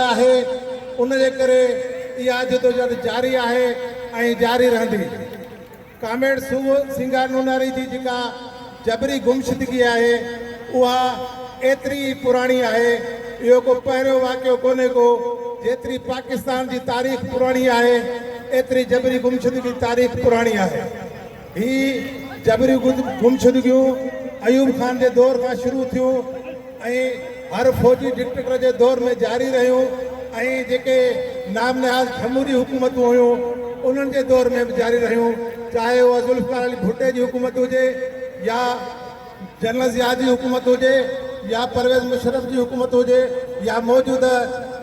آهي ان جي ڪري اها جدوجهد جاري آهي ۽ جاري رهندي. ڪامريڊ سوڀ سينگار نوناري جي جيڪا جبري گمشدگي آهي اها ايتري ئي پراڻي آهي اهو ڪو پهريون واقعو ڪونهي ڪو جيتري پاڪستان جي تاريخ پراڻي آهي ايتري جبري گمشدگي تاريخ پراڻي آهي. هي جبري گمشدگيون ايوب خان جي دور کان شروع ٿيون ۽ هر فوجي ڊڪٽيٽر جي دور ۾ جاري رهيون ۽ جيڪي نام نهاد جمهوري حڪومتون هيون انهن جي دور ۾ به جاري رهيون چاهي اها ذوالفقار علي ڀٽي جي حڪومت هجي يا جنرل ضياء جي حڪومت هجي يا پرويز مشرف جي حڪومت هجي يا موجوده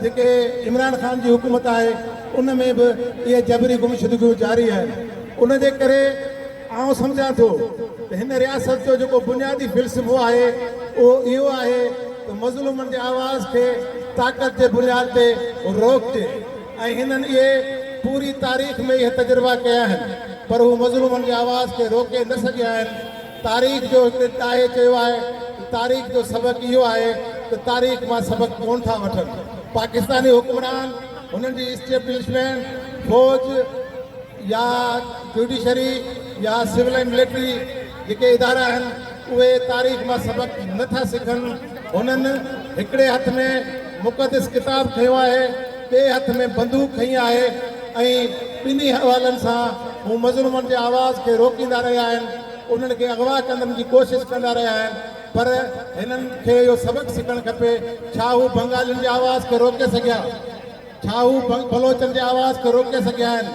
جيڪي عمران خان جي حڪومت آهي ان ۾ به اهي جبري گمشدگيون جاري آهن ان جي ڪري آئون سمجهان ٿو ته هن رياست جو جيڪو بنيادي فلسفو آهي اهو اهو آهي ته مظلومن جي آواز کي طاقت جي بنياد تي روڪجي ۽ هنن اهي پوري تاريخ ۾ اهي تجربا ڪيا آهن پر هو مظلومن جي آواز کي روڪي نه سگهيا آهن تاريخ جو هڪ ڏاهي چيو آهي ته تاريخ جو سبق اهو آهي ته تاريخ مان سبق ڪونه ٿا وٺن، پاڪستاني حڪمران، هنن جي اسٽيبلشمينٽ، فوج يا جوڊيشري يا سول ۽ ملٽري جيڪي ادارا آهن اهي تاريخ مان سبق نه ٿا سکن، هنن هڪڙي هٿ ۾ مقدس ڪتاب کنيو آهي، ٻئي هٿ ۾ بندوق کنئي آهي ۽ ٻنهي حوالن سان هو مظلومن جي آواز کي روڪيندا رهيا آهن، انهن کي اغوا ڪندن جي ڪوشش ڪندا رهيا آهن پر هنن کي اهو سبق سکڻ کپي ڇا هو بنگالين جي آواز کي روڪي سگهيا؟ ڇا هو بلوچن جي آواز کي روڪي سگهيا آهن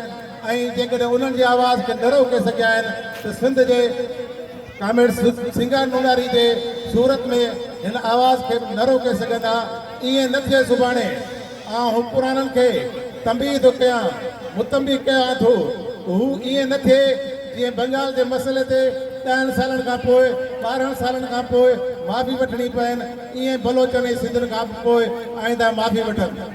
۽ جيڪڏهن انهن جي آواز کي نه روڪي سگهيا آهن ته سنڌ جي ڪامريڊ سنگهار مونگاري جي صورت ۾ هن آواز کي به نه روڪي سگهندا. ائين نه ٿئي سڀاڻي آئون حڪمرانن کي تنبيهه ٿو ڪيان، متنبه ڪيان ٿو ته هو ائين نه ٿئي جيئن بنگال جي مسئلي تي ڏهن سالن کان پوء، ٻارهن سالن کان پوء معافي وٺڻي پين، ائين بلوچن ۽ سنڌين کان به پوء آئنده معافي وٺن.